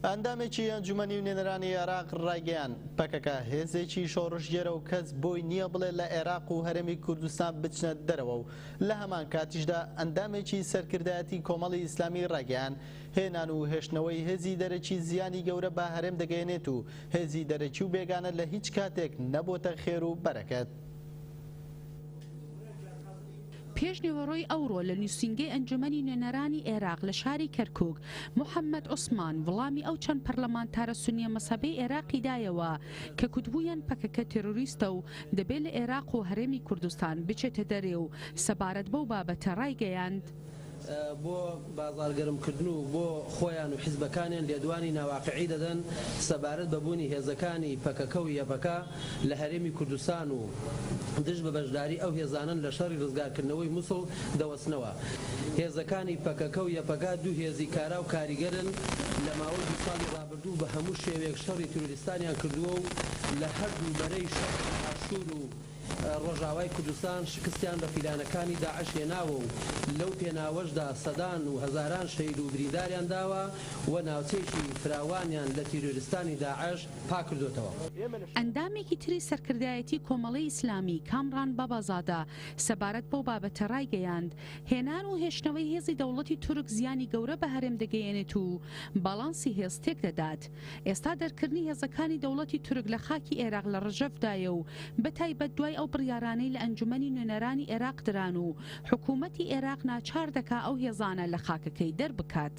ئەندامێکی ئەنجومەنی نوێنەرانی عێراق ڕایگەیاند، پەکەکە هێزێکی شۆڕشگێرە و کەس بۆی نییە بڵێ لە عێراق و هەرێمی کوردستان بچنە دەرەوە و لە هەمانکاتیشدا ئەندامێکی سەرکردایەتی کۆمەڵی ئیسلامی ڕایگەیاند، هێنان و هێشتنەوەی هێزی دەرەکی زیانی گەورە بە هەرێم دەگەیەنێت و هێزی دەرەکی و بێگانە لە هیچ کاتێک نەبۆتە خێر و بەرەکەت. پێشنیوەڕۆی ئەوڕۆ لە نوسینگەی ئەنجومەنی نوێنەرانی ئێراق لە شاری کەرکوک، محەمەد عوسمان وڵامی ئەو چەند پەرلەمانتارە سونیە مەزهەبەی ئێراقی دایەوە کە کوتبوویان پەکەکە تێرۆریستە و دەبێ لە ئێراق و هەرێمی کوردستان بچێتە دەرێ و سەبارەت بەو بابەتە رایگەیاند، بۆ بازاڕ گەرم کردن و بۆ خۆیان و حیزبەکانیان لێدوانی ناواقعی دەدەن سەبارەت بە بوونی هێزەکانی پەکەکە و یەپەکە لە هەرێمی کوردستان و دژ بە بەشداری ئەو هێزانەن لە شەڕی ڕزگار کردنەوەی موسڵ دەوەستنەوە. هێزەکانی پەکەکە و یەپەگە دوو هێزی کارا و کاریگەرن لە ماوەی دوو ساڵی ڕابردوو بە هەموو شێوەیەک شەڕی تروریستانیان کردووە و لە هەردوو بەرەی شەڕ باشوور و ڕۆژاوای کوردستان شکستیان بە پیلانەکانی داعش هێناوە و لەو پێناوەشدا سەدان و هەزاران شەهید و برینداریان داوە و ناوچەیەکی فراوانیان لە تیرۆریستانی داعش پاککردۆتەوە. ئەندامێکی تری سەرکردایەتی کۆمەڵی ئیسلامی کامڕان بابازادە سەبارەت بەو بابەتە ڕایگەیاند، هێنان و هێشتنەوەی هێزی دەوڵەتی تورک زیانی گەورە بە هەرێم دەگەیەنێت و باڵانسی هێز تێکدەدات. ئێستا دەرکردنی هێزەکانی دەوڵەتی تورک لە خاکی ئێراق لە ڕژەڤدایە و بەتایبەت دوای ئەو بڕیارانەی لە ئەنجومەنی نوێنەرانی ئێراق دران و حکوومەتی ئێراق ناچار دەکا ئەو هێزانە لە خاکەکەی دەربکات.